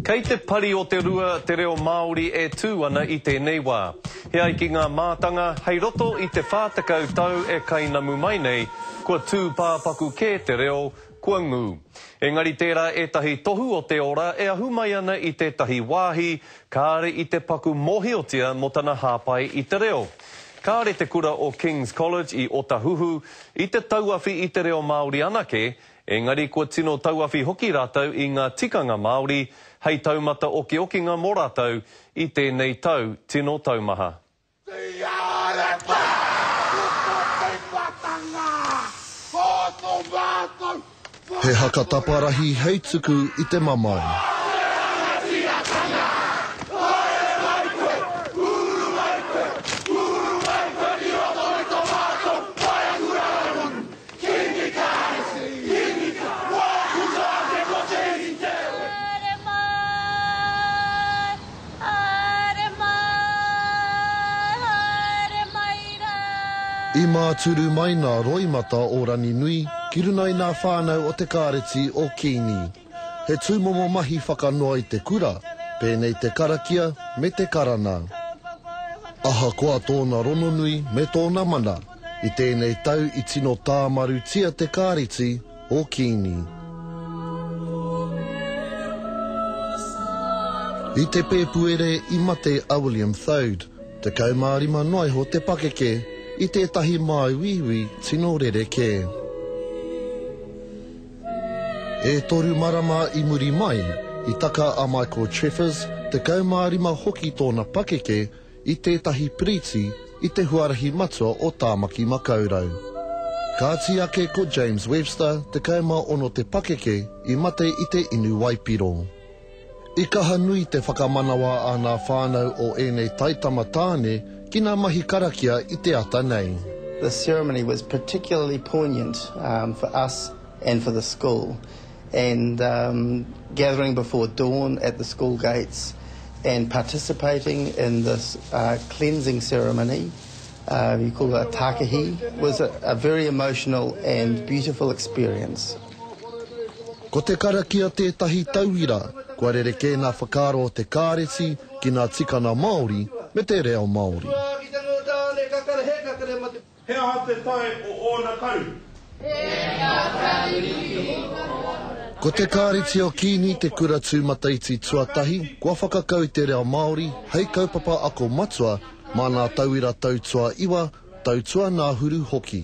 Kei te pari o te rua te reo Māori e tū ana i tēnei wā. E ai ki ngā mātanga, hei roto i te 40 tau e kainamu mai nei, kua tūpāpaku kē te reo, kua ngū. Engari tērā ētahi tohu o te ora e ahu mai ana i tētahi wāhi, kāre i te paku mōhiotia mō tana hāpai i te reo. Kāre te kura o King's College i Otahuhu i te tauawhi i te reo Māori anake, Engari kua tino tauawhi hoki rātou i ngā tikanga Māori hei taumata okiokinga mō rātou i tēnei tau tino taumaha. Tiarepa! Kuko Teipatanga! Ko to matou whakatau! He haka taparahi hei tuku i te mamae. Haere rangatiratanga! Haere mai koe! Uru mai koe! Uru mai koe ki roto i to matou whare kura rangahau! I māturu mai nā roimata o Ranginui ki runga i nā whānau o te Kāreti o Kīngi. He tūmomo mahi whakanoa i te kura, pēnei te karakia me te karana. Ahakoa tōna rononui me tōna mana, i tēnei tau i tino tāmarutia te kāreti o Kiini. I te Pēpuere i mate a William Thode, 15 noa iho te pakeke, i tētahi māuiui tino rerekē. E toru marama i muri mai, i taka a Michael Treffers, 15 hoki tōna pakeke, i tētahi piriti i te huarahi matua o Tāmaki Makaurau. Kāti ake ko James Webster, 16 te pakeke, i mate i te inu waipiro. I kaha nui te whakamanawa a ngā whānau o ēnei taitama tāne ki ngā mahi karakia i te ata nei. This ceremony was particularly poignant for us and for the school and gathering before dawn at the school gates and participating in this cleansing ceremony, you call it a takihi, was a very emotional and beautiful experience. Ko te karakia tētahi tauira kua rerekē ngā whakaaro o te kāreti ki ngā tikanga Māori me te reo Māori. He aha te tae o ōna karu? Ko te kāreti o Kīngi te kura tūmataiti tuatahi kua whakakau i te reo Māori hei kaupapa ako matua mā ngā tauira tau tuaiwa, tau tuangāhuru hoki.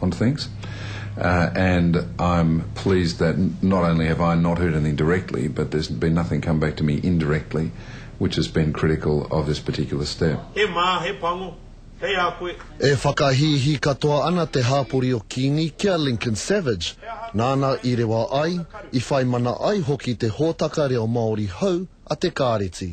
on things and I'm pleased that not only have I not heard anything directly but there's been nothing come back to me indirectly which has been critical of this particular step. He mā, he pango, kei a koe. E whakahīhī katoa ana te hāpori o Kīngi ki a Lincoln Savage, nāna i rewa ai, i whai mana ai hoki te hōtaka reo Māori hou a Te Kāreti.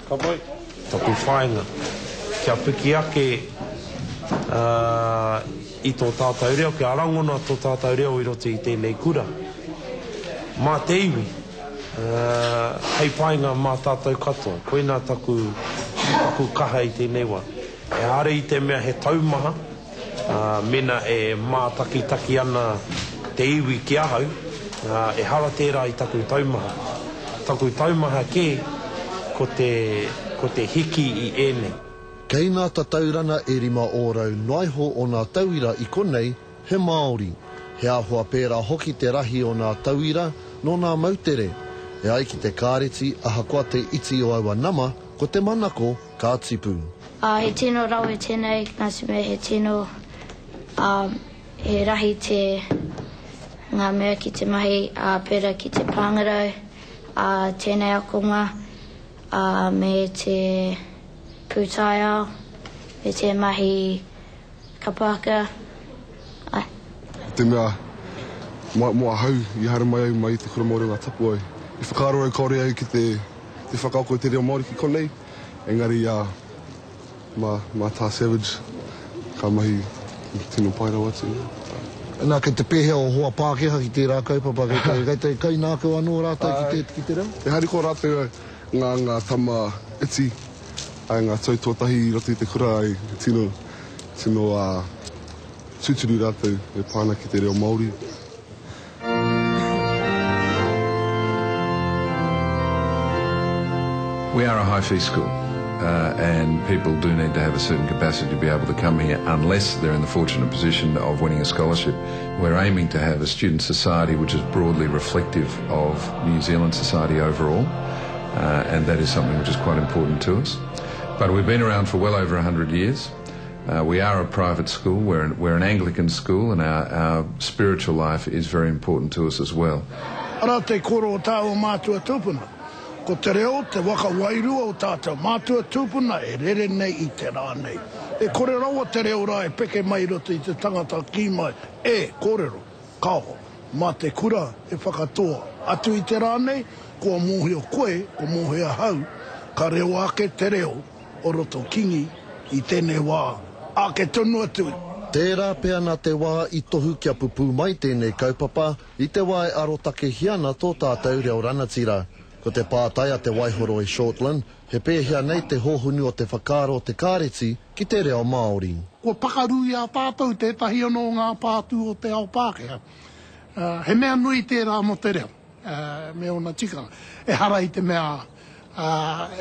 Ka pai taku whainga kia piki ake i tō tātou reo, kia rangona tō tātou reo i roto i tēnei kura. Mā te iwi, hei painga mā tātou katoa. Koinā taku kaha i tēnei wā. Ehara i te mea he taumaha, Ā, mēnā e mātakitaki ana te iwi ki ahau, ā, ehara tērā i taku taumaha. Taku taumaha kē, ko te, ko te hiki i ēnei. Kei ngā tatauranga e rima ōrau noaiho o ngā tauira i konei he Māori. He āhua pērā hoki te rahi o ngā tauira nō ngā moutere. E ai ki te Kāreti, ahakoa te iti o aua nama, ko te manako, ka tipu. Ā, he tino rawe tēnei, nā te mea he tino, ā, he rahi te, ngā mea ki te mahi, ā, pērā ki te pāngarau, ā, tēnei akonga, ā, me te pūtaiao, me te mahi. Ka Pākehā, ae. I te mea, mā, mō ahau, i haere mai au mai i te Kura Māori o Ngāi Tapuwae, i whakaaro au kāore au ki te, te whakaako i te reo Māori ki konei, engari, ā, mā, mā Tā Savage, ka mahi tino pai rawa atu, ā. Nā, kei te pēhea ō hoa Pākehā ki tērā kaupapa, kei te, kei te kainākau anō rātou ki te, ki te reo? E harikoa rātou ngā, ngā tama iti. Ai ngā tau tuatahi i roto i te kura ai he tino, tino tūturu rātou e pā ana ki te reo Māori. We are a high fee school and people do need to have a certain capacity to be able to come here unless they're in the fortunate position of winning a scholarship. We're aiming to have a student society which is broadly reflective of New Zealand society overall. Uh, and that is something which is quite important to us. But we've been around for well over 100 years. Uh, we are a private school, we're an, we're an Anglican school, and our, our spiritual life is very important to us as well. Ara te koro o tā o mātua tūpuna. Ko te reo, te waka wairua o tātou mātua tūpuna e rere nei i te rā nei. E kore rawa te reo rā e peke mai roto i te tangata kī mai, e, kōrero. Kāho, mā te kura e whakatoa. Atu i te rā nei, kua mōhio koe, kua mōhio ahau, ka reo ake te reo o roto kingi i tēnei wā, āke tonu atu i. Tērā pea nā te wā i tohu kia pupū mai tēnei kaupapa i te wā e arotakehia ana tō tātou reo ranatira. Ko te pātai a Te Waihoroi Shortland, He pēhea nei te hōhunu o te whakaaro o te kāreti ki te reo Māori? Kua pakaru i a tātou tētahi anō o ngā pātū o te ao Pākehā. He mea nui tērā mō te reo me ōna tikanga. Ehara i te mea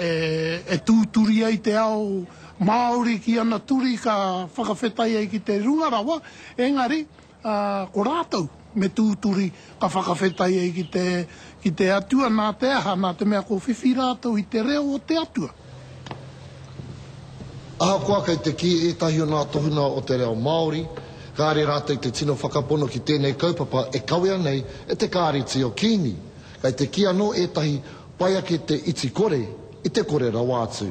e tūturi ai te ao Māori ki ana turi ka whakawhetai ai ki te runga rawa, engari Ā, ko rātou, me tūturi, ka whakawhetai ai ki te, ki te Atua, nā te aha, nā te mea ko whiwhi rātou i te reo o te Atua. Ahakoa kei te kī ētahi o ngā tohunga o te reo Māori, kāre rātou te tino whakapono ki tēnei kaupapa e kawea nei e te Kāreti o Kīngi, kei te kī anō ētahi, pai ake te iti kore i te kore rawa atu.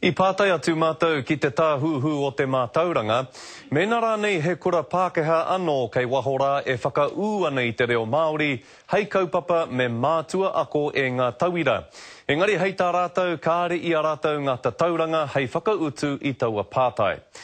I pātai atu mātou ki te Tāhuhu o te Mātauranga, mēnā rānei he kura Pākehā anō kei waho rā e whakaū ana i te reo Māori hei kaupapa me mātua ako e ngā tauira. Engari hei tā rātou kāre i a rātou ngā tatauranga hei whakautu i taua pātai.